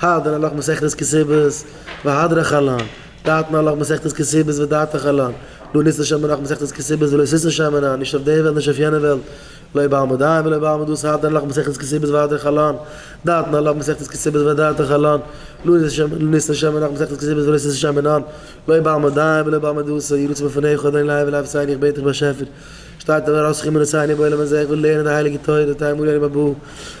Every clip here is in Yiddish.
הד ן הל' מסכת כסובס והדרכה לן, דעת ן הל' מסכת כסובס ודעתך לן, לא ניסן שם מנח מסכת כסובס ולא שישן שם מנח, נישט אויף די וועלט נישט אויף יענע וועלט, לא בעמוד עין ולא בעמוד אוס הד ן הל' מסכת כסובס והדרכה לן, דעת ן הל' מסכת כסובס ודעתך לן, לא ניסן שם מנח מסכת כסובס ולא שישן שם מנח, לא בעמוד עין ולא בעמוד אוס יהי רצון מלפניך אדוני לעי ולאפסי איך בעט דיך באשעפער שטארק דעם הרוצחים מנסיון אין בעולם הזה איך וויל לערנען די הייליגע תורה תאמרי אני מבוא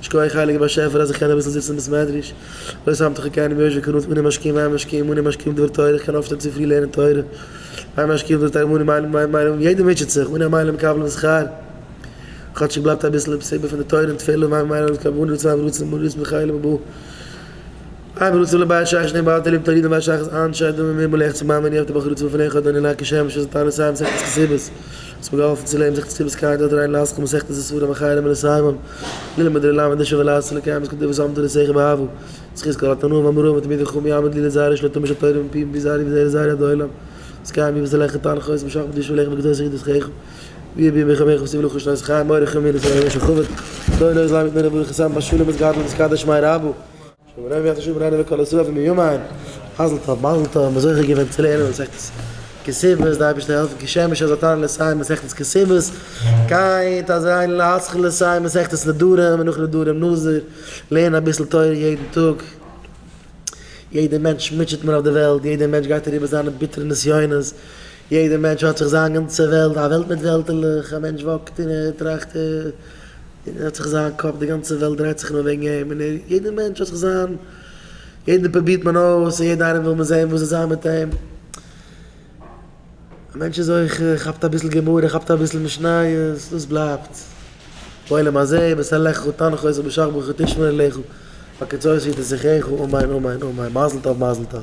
שקויעך הייליגער באשעפער אז איך קען אביסל זיצן אין בית מדרש, לויט סאמט איך קען יוש וקנא את מני משקים ואין משקיעים מני משקיעים דבר תורה, איך קען אויפשטיין צופרי לערנען תורה, ואין משקיעים דבר תורה מני מיילען מיין מיילען ווי יעדער מוטשעט זיך, מני המיילען מקבלין שכר, כאטשיג בלייבט אביסל אין פסיבה פון די תורה און תפלה, ואין מיילען אויס קיין מני רצון אויף רצון מני רצון דחיילה בבא. איי ווען עס לבית שייך שני בעל תליב תלידים וואס שייך איז אנ ש אדמו ר ממירבולעך צו מאמע ניאוף די בחור איז צופעליך האט דער נלע כ שמש איז טענה סיי מסכת כסיבות וואס מיר געהאלפן צו לערנען מסכת כסיבות קייט אדער ריין לאסקע מסכת איז ספרים אחרי למען לסיימם ללמוד ר' למד לשוב ולעשות לקיים את כתובות אמתו לסייחי באהבה זכות כל התנאים האמורים ותמיד יחום יעמוד לי לזרע יש לו תורה של תורה מפי ומפי זרעי וזרע זרעי עד העולם אז קיים בי וזה לך אתן לך עוז משאכ בקדושה ולחם בקדושה יחידות חייך ויהיה בי ימי חייך וסיב לכה שנות חייך מורי חמי לסיים ימי שחובת דוי נוי זלם יתננה בריך יסם בשלום יתגדל ויתקדש שמי רבו. שלום רבי האט געשריבן, איינער מכל ישראל פון מימון, מזל טוב מזל טוב, מען איז זוכה געווען צו לערנען מסכת כסוות, די אייבערשטער העלפן כשמש אז אט אן לסיים מסכת כסוות, קיין אז אן להתחיל לסיים מסכת נדרים, און נאך נדרים נזיר, לערן אביסל תורה יעדן טאג, יעדע מענטש מוטשעט מען אויף די וועלט, יעדע מענטש גייט אריבער זיינע ביטערע נסיונות, יעדער מענטש האט זיך זיין גאנצע וועלט, א וועלט מיט וועלטעלעך, א מענטש וואקט און ער טראכט און ער האט זיך זיין קאפ, די גאנצע וועלט דרייט זיך נאר וועגן אים, און יעדער מענטש האט זיך זיין, יעדן פרובירט מען אויס, און יעדן איינעם וויל מען זען וואס וועט זיין מיט אים, א מענטש איז אויך ער כאפט אביסל גמרא, ער כאפט אביסל משניות, דאס בלייבט בעולם הזה, בשר לחכו תנחו עשו בשחר ברחו תשמעו אליכו, בקצות יתן שיחךו, אמן אמן אמן, מזל טוב מזל טוב.